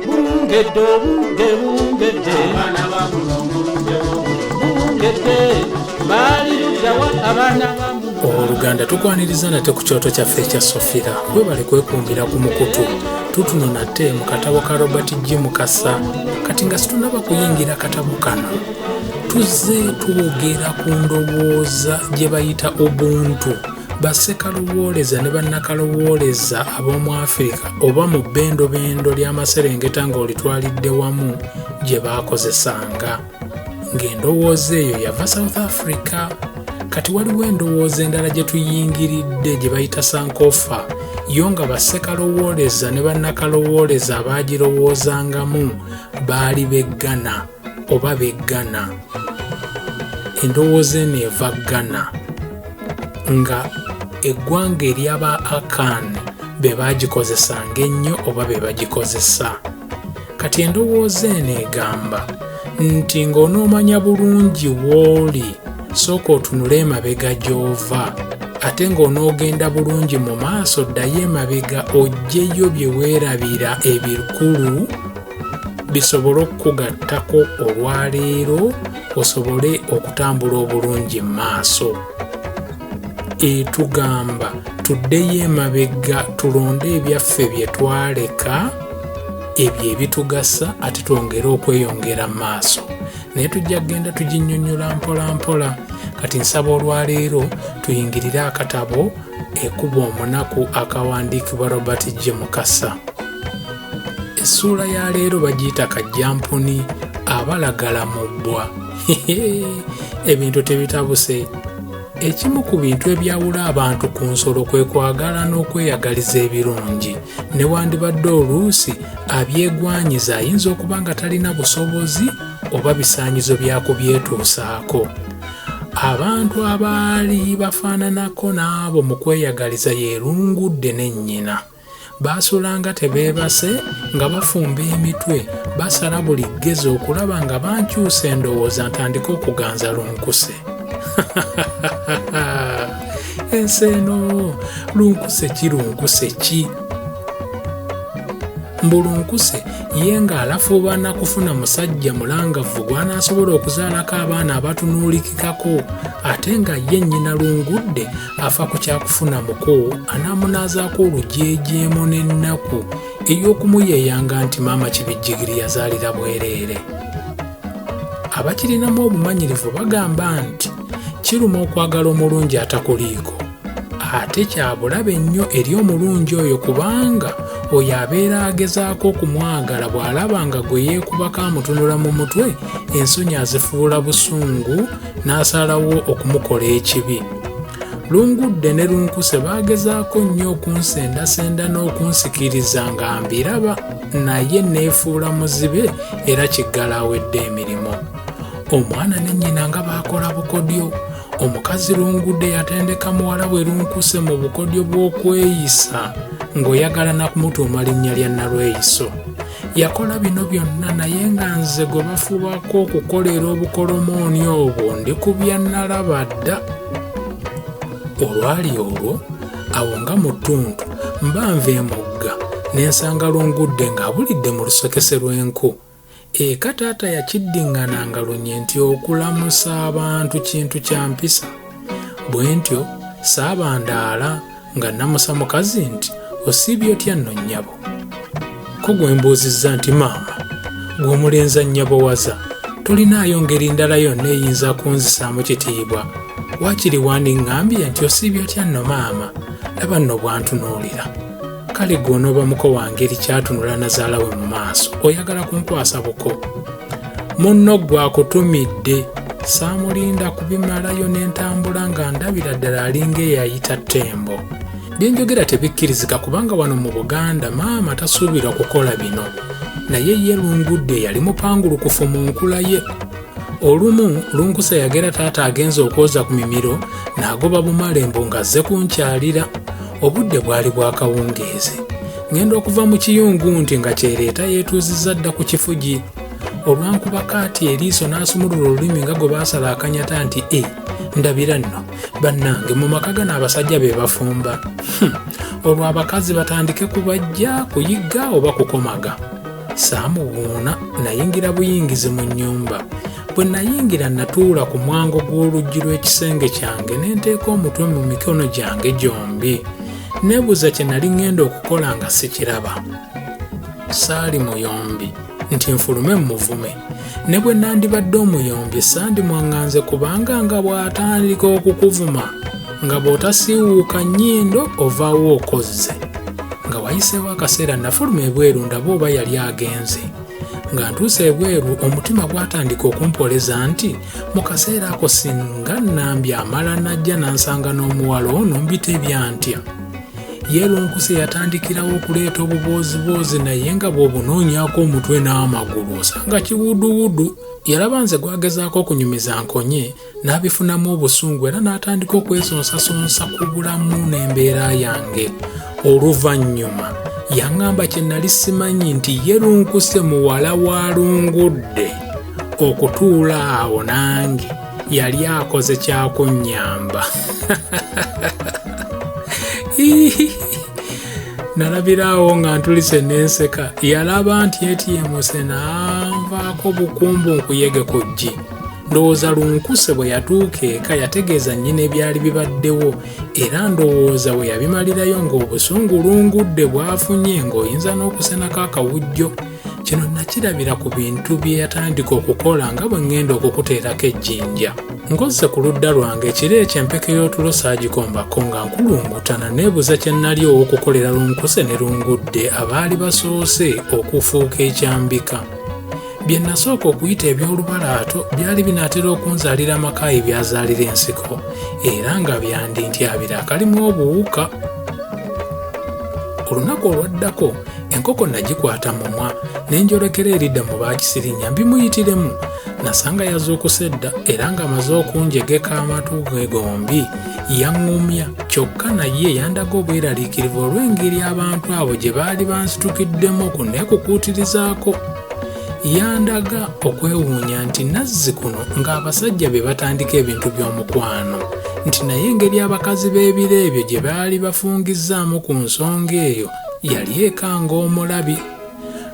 bungedde obudde bungedde abaana ba mulongo budde bungedde baali luddawa abaana ba owoluganda tukwaniriza nate ku kyoto kyaffe ekya sofira webale kwekumbira ku mukutu tutuno nate mu katabo ka robert g mukasa kati nga situnaba kuyingira katabo kano tuzze twogera ku ndowooza gye bayita ubuntu Bassekaluwooleza ne bannakaluwooleza ab'omu Afirika oba mu bbendobendo ly'amaserengeta ng'olitwalidde wamu gye baakozesanga. Ng'endowooza eyo yava South Africa, kati waliwo endowooza endala gye tuyingiridde gye bayita sankofa yo nga bassekalowooleza ne bannakalowooleza abaagirowoozangamu baali beggana. oba be Ghana endowooza eno eva Ghana nga eggwanga eryaba Akan be baagikozesanga ennyo oba be bagikozesa kati endowooza eno egamba nti ng'onoomanya bulungi w'oli sooka otunule emabega gy'ova ate ng'onoogenda bulungi mu maaso ddayo emabega ojjeyo bye weerabira ebikulu bisobole okukugattako olwaleero osobole okutambula obulungi mu maaso etugamba tuddeyo emabega tulonde ebyaffe bye twaleka ebyo ebitugasa ate twongere okweyongera mu maaso naye tujja kugenda tuginyonyola mpola mpola kati nsaba olwaleero tuyingirire akatabo ekuba omunaku akawandiikibwa robert g mukasa essuula ya leero bagiyita kajjampuni abalagala mu bbwa ebintu tebitabuse ekimu ku bintu ebyawula abantu ku nsolo kwe kwagala n'okweyagaliza ebirungi newandibadde oluusi abyegwanyiza ayinza okuba nga talina busobozi oba bisaanyizo byakubyetuusaako abantu abaali bafaananako n'abo mu kweyagaliza yerungudde ne nnyina baasulanga tebeebase nga bafumba emitwe basala buli ggezi okulaba nga bankyusa endowooza ntandika okuganza lunkuse ensi eno lunkuse ki lunkuse ki mbulunkuse ye ng'alafuubana kufuna musajja mulangavu gw'anaasobola okuzaalako abaana abatunuulikikako ate nga ye nnyina lungudde afa ku kyakufuna muko anaamunaazaako olujeejeemo n'ennaku ey'okumuyeeyanga nti maama kibijjigiri yazaalira bwereere abakirinamu obumanyirivu bagamba nti kiruma okwagala omulungi atakuliiko ate kyabulabe nnyo eri omulungi oyo kubanga oyo abeera agezaako okumwagala bw'alaba nga gwe yeekubako amutunula mu mutwe ensonyi azifuula busungu n'asalawo okumukola ekibi lungudde ne lunkuse baagezaako nnyo okunsendasenda n'okunsikiriza nga mbiraba naye neefuula muzibe era kiggala awedde emirimu omwana ne nnyina nga baakola bukodyo omukazi lungudde yatendeka muwala bwe lunkuse mu bukodyo bw'okweyisa ng'oyagala nakumutuuma linnya lya nalweyiso yakola bino byonna naye nga nze gwe bafubako okukolera obukolomooni obwo ndi ku byannalaba dda olwali olwo awo nga mu ttuntu mba nva emugga ne nsanga lungudde ng'abulidde mu lusokese lw'enku eka taata yakiddiŋŋana nga lunye nti okulamusa abantu kintu kya mpisa bwe ntyo saabandaala nga namusa mukazi nti osiibye otya nno nnyabo ko gwe mbuuzizza nti maama gw'omulenza nnyabo waza tolinaayo ngeri ndala yonna eyinza kunzisaamu kitiibwa waakiri wandiŋŋambye nti osiibye otya nno maama laba nno bwantunuulira kale gwe onoobamuko wangeri kyatunula nazaala we mu maaso oyagala kunkwasa buko munno gwe akutumidde saamulinda kubimalayo ne ntambula nga ndabira ddala alinga eyayita ttembo byenjogera tebikkirizika kubanga wano mu buganda maama tasuubirwa kukola bino naye ye lungudde yali mupangulukufu mu nkula ye olumu lunkusa yagera taata agenza okwoza ku mimiro n'agoba bumalembo ng'azze kunkyalira obudde bwali bwakawungeezi ngenda okuva mu kiyungu nti nga kyereeta yeetuuzizza dda ku kifugi olwankuba kaati eriiso n'asumulula olulimi nga gwe baasala akanyata nti e ndabira nno bannange mu maka gano abasajja be bafumba hmm. olwo abakazi batandike kubajja kuyigga oba kukomaga saamuwuuna nayingira buyingizi mu nnyumba bwe nayingira natuula ku mwango gw'oluggi lw'ekisenge kyange ne nteeka omutwe mu mikono gyange gyombi Neebuuza kye nali ŋŋenda okukola nga sikiraba. Saali muyombi nti nfulume mmuvume. Ne bwe nandibadde omuyombi sandimwaŋŋanze kubanga nga bw'atandika okukuvuma nga bw'otasiiwuuka nnyindo ovaawo okozze. Nga wayiseewo akaseera nafuluma ebweru ndaba oba yali agenze. Nga ntuuse ebweru omutima gwatandika okumpoleza nti mu kaseera ako singa nambi amala najja nansanga n'omuwala ono mbitebya ntya yeelunkuse yatandikirawo okuleeta obubooziboozi naye nga bw'obunoonyako omutwe n'amagulu osanga kiwuduwudu yalaba nze gwagezaako okunyumiza nkonye n'abifunamu obusungu era n'atandika okwesonsasonsa ku bulamu n'embeera yange oluvannyuma yaŋŋamba kye nali simanyi nti yeelunkuse muwala wa lungudde okutuula awo nange yali akoze kyakunnyamba nalabiraawo nga ntulise n'enseka yalaba nti etyemuse naanvaako bukumbu nkuyege ku ggi ndowooza lunkuse bwe yatuuka eka yategeeza nnyina ebyali bibaddewo era ndowooza bwe yabimalirayo ng'obusungu lungudde bwafunye ng'oyinza n'okusenako akawujjo kino nakirabira ku bintu bye yatandika okukola nga bwe ŋŋenda okukuteerako ejjinja ngozze ku ludda lwange ekiro ekyo empeke y'otulo saagikombako nga nkulungutana neebuza kye nnali ow'okukolera lunkuse ne lungudde abaali basoose okufuuka ekyambika bye nasooka okuyita eby'olubalaato byali binaatera okunzaalira amakaayi byazaalira ensiko era nga byandintyabira akalimu obuwuka olunaku olwaddako enkoko nagikwata mumwa ne njolekera eridda mu baakisirinya mbimuyitiremu nasanga yazuukusa edda era ng'amaze okunjegeka amatu ge gombi yaŋŋumya kyokka naye yandaga obweraliikirivu olw'engeri abantu abo gye baali bansitukiddemu ku neekukuutirizaako yandaga okwewuunya nti nazzi kuno ng'abasajja be batandika ebintu by'omukwano nti naye engeri abakazi b'ebiro ebyo gye baali bafungizzaamu ku nsonga eyo yali ekanga omulabi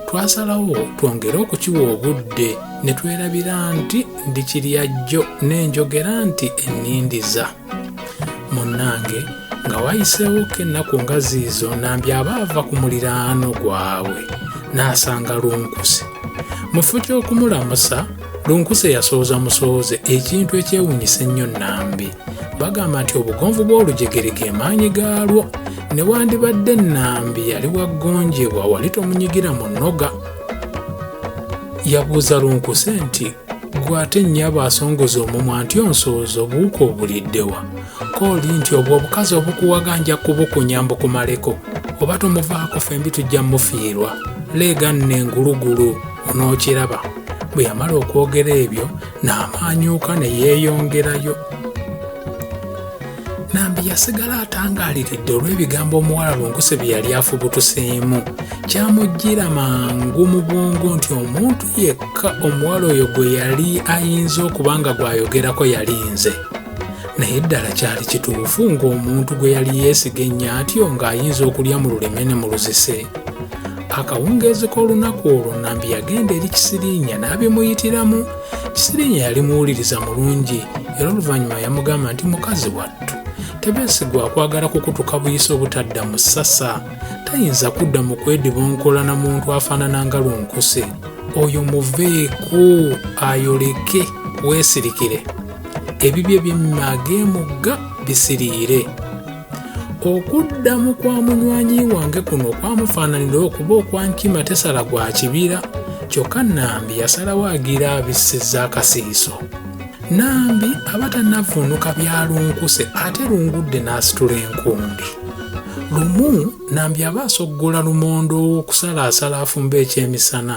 twasalawo twongere okukiwa obudde ne twerabira nti ndi kiryajjo n'enjogera nti ennindiza munnange nga wayiseewo ko ennaku nga ziizo nambi aba ava ku muliraano gwabwe n'asanga lunkuse mu kifo ky'okumulamusa lunkuse yasooza musooze ekintu ekyewuunyisa ennyo nnambi bagamba nti obugonvu bw'olujegere ge maanyi gaalwo ne wandibadde nnambi yali waggonjebwa wali tomunyigira mu nnoga yabuuza lunkuse nti gwe ate nnyabo asongoza omumwa nti onsooza obuwuka obuliddewa kooli nti obwo obukazi obukuwaga nja kubukunya mbukumaleko oba tomuvaako fembi tujja mufiirwa leega nno engulugulu onookiraba bwe yamala okwogera ebyo n'amaanyuuka ne yeeyongerayo nambi yasigala atangaaliridde olw'ebigambo omuwala lunkuse bye yali afubutuseemu kyamujjira mangu mu bwongo nti omuntu yekka omuwala oyo gwe yali ayinza okuba nga gw'ayogerako yali nze naye ddala kyali kituufu ng'omuntu gwe yali yeesiga ennyo atyo ng'ayinza okulya mu luleme ne mu luzise akawungeezi k'olunaku olwo nambi yagenda eri kisiriinya n'abimuyitiramu kisiriinya yali muwuliriza mulungi era oluvannyuma yamugamba nti mukazi wattu tebeesigwa akwagala kukutuka buyisa obutadda mu ssasa tayinza kudda mu kwedibonkola na muntu afaanana nga lunkuse oyo muveeko ayoleke weesirikire ebibye byemmag'emugga bisiriire okuddamu kwa munywanyi wange kuno kwamufaananira okuba okwankima tesala gwa kibira kyokka nambi yasalawo agira abisiza akasiiso nambi aba tanavuunuka byalunkuse ate lungudde n'asitula enkundi lumu nambi aba asoggola lumonde ow'okusalaasala afumba ekyemisana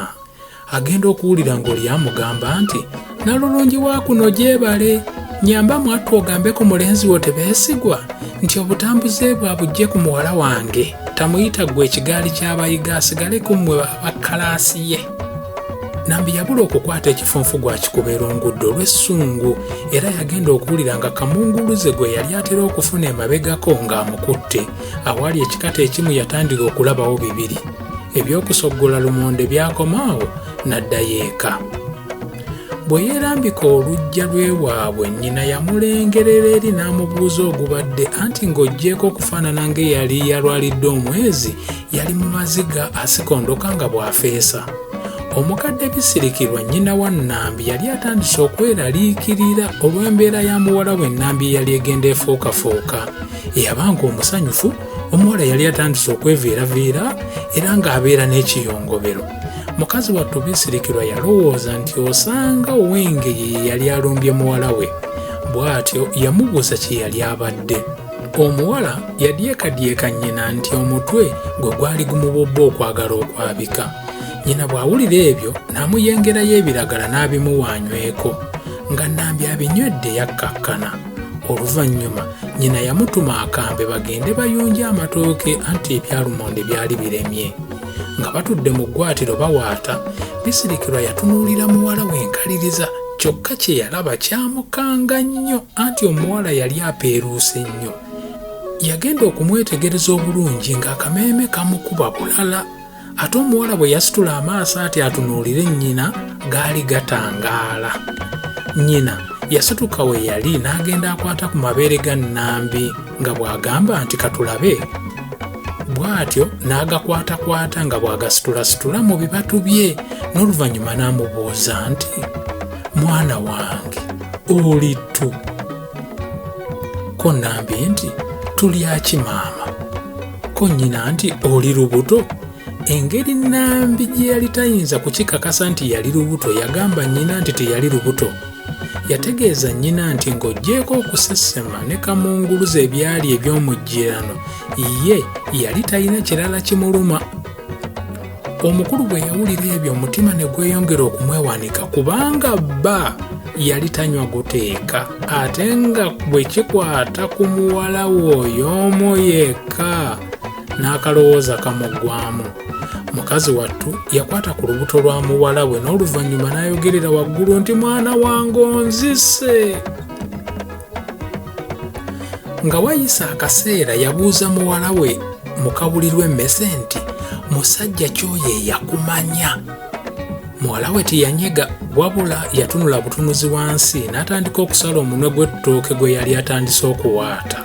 agenda okuwulira ng'oli amugamba nti nalulungi wa kuno gyebale nyamba mwattu ogambe ku mulenzi wo tebeesigwa nti obutambuze bwe abujje ku muwala wange tamuyita ggwe ekigaali ky'abayiga asigale ku mmwe abakkalaasi ye nambi yabula okukwata ekifunfu gwakikuba erungudde olw'essungu era yagenda okuwulira nga kamunguluze gwe yali atera okufuna emabegako ng'amukutte awaali ekikata ekimu yatandika okulabawo bibiri eby'okusoggola lumonde byakoma awo n'addayo eka bwe yeerambika oluggya lw'ewaabwe nnyina yamulengerera eri n'amubuuza ogubadde anti ng'oggyeeko okufaanana ng'eyali yalwalidde omwezi yali mu maziga asikondoka nga bw'afeesa omukadde bisirikirwa nnyina wa nnambi yali atandise okweraliikirira olw'embeera ya muwala we nnambi eyali egenda efuukafuuka eyabanga omusanyufu omuwala yali atandise okweviiraviira era ng'abeera n'ekiyongobero mukazi wattu bisirikirwa yalowooza nti osanga owenge ye yali alumbye muwala we bw'atyo yamubuuza kye yali abadde omuwala yadyekadyeka nnyina nti omutwe gwe gwali gumubobba okwagala okwabika nnyina bw'awulira ebyo n'amuyengerayo ebiragala n'abimuwaanyweko nga nambi abinywedde yakkakkana oluvannyuma nyina yamutuma akambe bagende bayunje amatooke anti ebyalumonde byali biremye nga batudde mu ggwatiro bawaata bisirikirwa yatunuulira muwala w'enkaliriza kyokka kye yalaba kyamukanga nnyo anti omuwala yali apeeruuse nnyo yagenda okumwetegereza obulungi ng'akameeme kamukuba bulala ate omuwala bwe yasitula amaaso ati atunuulire nnyina gaali gatangaala nnyina yasituka we yali n'agenda akwata ku mabeere ga nnambi nga bw'agamba nti katulabe bw'atyo n'agakwatakwata nga bw'agasitulasitula mu bibatu bye n'oluvannyuma n'amubuuza nti mwana wange oli tu ko nnambi nti tulyaki maama ko nnyina nti oli lubuto engeri nnambi gye yali tayinza kukikakasa nti yali lubuto yagamba nnyina nti teyali lubuto yategeeza nnyina nti ng'oggyeeko okusesema ne kamunguluza ebyali eby'omujjirano ye yali talina kirala kimuluma omukulu bwe yawulira ebyo omutima ne gweyongera okumwewanika kubanga bba yali tanywa guteeka ate nga bwe kikwata ku muwala we oyo omu yekka n'akalowooza kamuggwamu mukazi wattu yakwata ku lubuto lwa muwala we n'oluvannyuma n'ayogerera waggulu nti mwana wange onzise nga wayise akaseera yabuuza muwala we mukabulirwa emmese nti musajja kyoyo eyakumanya muwala we teyanyega wabula yatunula butunuzi wansi n'atandika okusala omunwe gw'ettooke gwe yali atandise okuwaata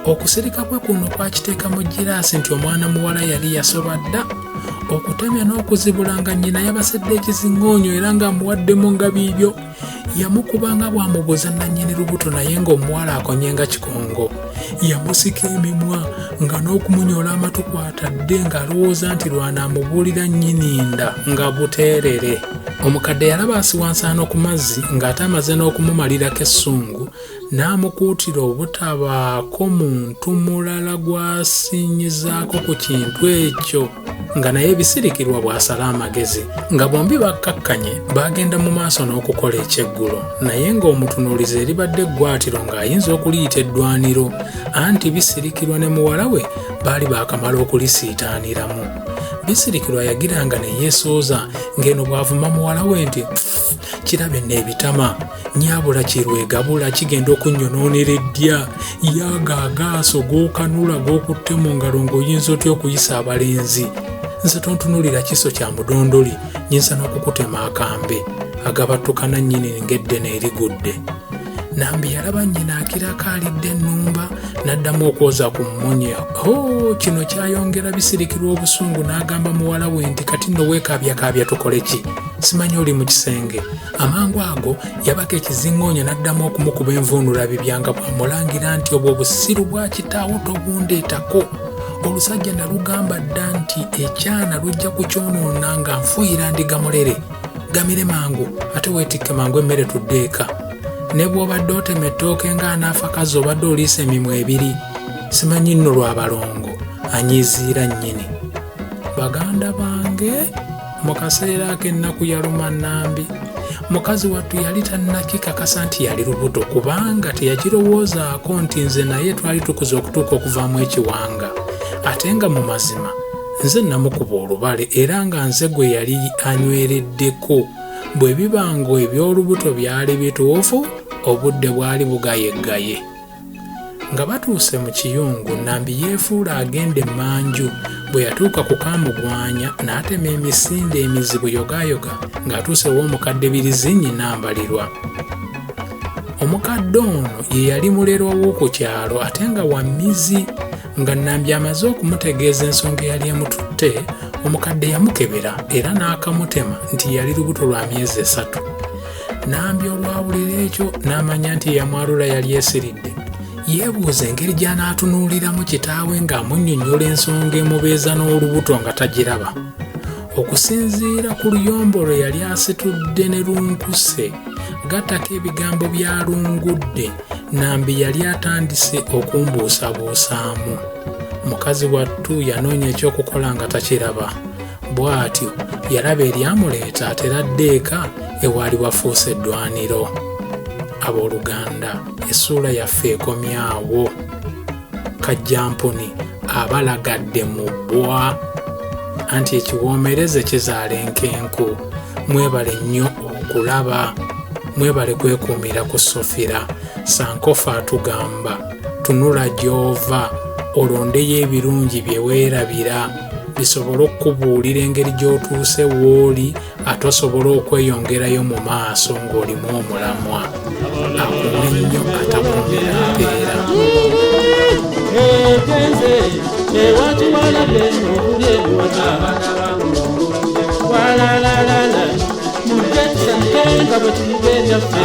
okusirika kwe kuno kwakiteeka mu giraasi nti omwana muwala yali yasoba dda okutemya n'okuzibula nga nnyina yabasedde ekizingoonyo era ng'amuwaddemu nga biibyo yamukuba nga bw'amubuza nannyini lubuto naye ng'omuwala akonye nga kikongo yamusika emimwa nga n'okumunyoola amatu kwatadde ng'alowooza nti lwanaamubuulira nnyiniinda nga buteerere omukadde yalaba asiwansaano ku mazzi ng'ate amaze n'okumumalirako essungu n'amukuutira obutabaako muntu mulala gw'asinyizaako ku kintu ekyo nga naye ebisirikirwa bw'asala amagezi nga bombi bakkakkanye baagenda mu maaso n'okukola ekyeggulo naye ng'omutunuulizi eribadde eggwatiro ng'ayinza okuliyita eddwaniro anti bisirikirwa ne muwala we baali baakamala okulisiitaaniramu bisirikirwa yagiranga ne yeesooza ng'eno bw'avuma muwala we nti kirabe n'ebitama nyabula kyerwegabula kigenda okunyonoonera eddya yaaga agaaso g'okanula g'okutte mu ngalo ng'oyinza otya okuyisa abalenzi nze tontunulira kiso kya mudondoli nyinza n'okukutema akambe agabattukana nnyini ng'eddene erigudde nambi yalaba nnyina akirako alidde ennumba n'addamu okwoza ku mmunya o oh, kino kyayongera bisirikirwa obusungu n'agamba muwala we nti kati nno weekaabyakaabya tukole ki simanyi oli mu kisenge Amangu ago yabaka ekizingoonyo n'addamu okumukuba envuunulabibya nga bw'amulangira nti obwo busiru bwa kitaawo tobundeetako olusajja nalugamba dda nti ekyana lujja kukyonoona nga nfuuyira ndiga mulere gamire mangu ate weetikke mangu emmere tudde eka ne bw'obadde otema ettooke ng'anaafa kazi obadde oliisa emimwa ebiri simanyi nno lwa balongo anyiziira nnyini baganda bange mu kaseera ak'ennaku yaluma nambi mukazi wattu yali tannakikakasa nti yali lubuto kubanga teyakirowoozaako nti nze naye twali tukuza okutuuka okuvaamu ekiwanga ate nga mu mazima nze namukuba olubale era nga nze gwe yali anywereddeko bwe biba ng'eby'olubuto byali bituufu obudde bwali bugayeggaye nga batuuse mu kiyungu nambi yeefuula agenda emmanju bwe yatuuka ku kaamugwanya n'atema emisinde emizibu yogaayoga ng'atuuse w'omukadde birizinyi nambalirwa omukadde ono ye yali mulerwa w'oku kyalo ate nga wa mizi nga nambi amaze okumutegeeza ensonga eyali emututte omukadde yamukebera era n'akamutema nti yali lubuto lwa myezi esatu nambi olwawulira ekyo n'amanya nti eyamwalula yali esiridde yeebuuza engeri gy'anaatunuuliramu kitaawe ng'amunnyonnyola ensonga emubeeza n'olubuto nga tagiraba okusinziira ku luyombo lwe yali asitudde ne lunkuse gattako ebigambo bya lungudde nambi yali atandise okumbuusabuusaamu mukazi wattu yanoonya ekyokukola nga takiraba Bw'atyo yalaba eryamuleeta atera adde eka ewaali wafuuse eddwaniro. Abooluganda, essuula yaffe ekomyawo. Kajjampuni abalagadde mu bbwa. Anti ekiwoomereze kizaala enkenku. Mwebale nnyo okulaba. Mwebale kwekuumira ku Sofira. Sankofa atugamba. tunula gy'ova olondeyo ebirungi bye weerabira bisobole okukubuulira engeri gy'otuuse w'oli ate osobole okweyongerayo mu maaso ng'olimu omulamwa akuwe nnyo atakumbira mpeera Walala, la la la, mujja tusange nga bwe tuyiga ebyaffe.